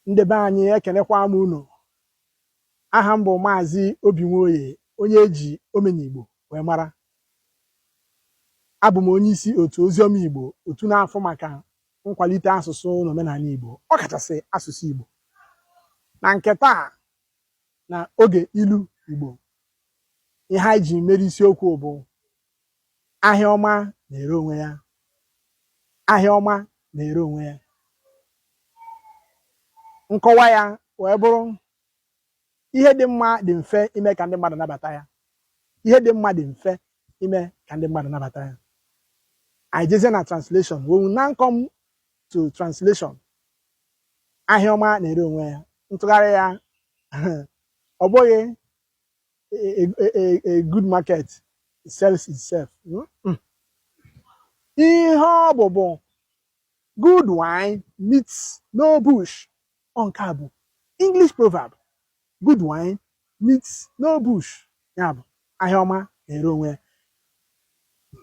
ndị be anyị ekenekwa m unu aha m bụ maazị obi nwoye onye eji omenigbo wee mara abụ m onye isi otu oziọma igbo otu na-afụ maka nkwalite asụsụ na omenanị igbo ọ kachasị asụsụ igbo na nke taa na oge ilu igbo ihe anyị ji mere isiokwu bụ Ahịa ọma na-ere onwe ya. Ahịa ọma na-ere onwe ya. Nkọwa ya wee bụrụ ihe dị mma dị mfe ime ka ndị mmadụ nabata ya. Ihe dị mma dị mfe ime ka ndị mmadụ nabata ya. Anyị jezie na translation when we now come to translation ahịa ọma na-ere onwe ya ntụgharị ya ọ bụghị a, a, a, a good market sells itself. Mm, mm. Ihe ọ bụ bụ good wine meets no bush. Ọ nke a bụ English proverb. Good wine meets no bush. Ya bụ ahịa ọma na-ere onwe ya.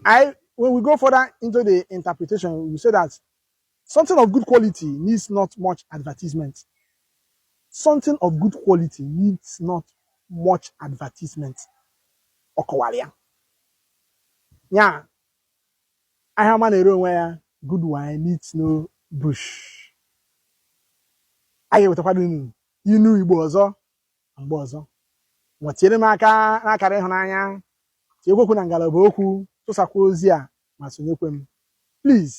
I when we go further into the interpretation, we say that Something of good quality needs not much advertisement. Something of good quality needs not much advertisement. Ọ kọwara ya. Ya ahịa ọma na-ere onwe ya good wine needs no bush. A ga-ewetakwara unu inu Igbo ọzọ mgbe ọzọ. Ngwa tinyere m aka n'akara ịhụnanya, tinyekwa okwu na ngalaba okwu, tụsakwa ozi a ma sonyekwe m. Please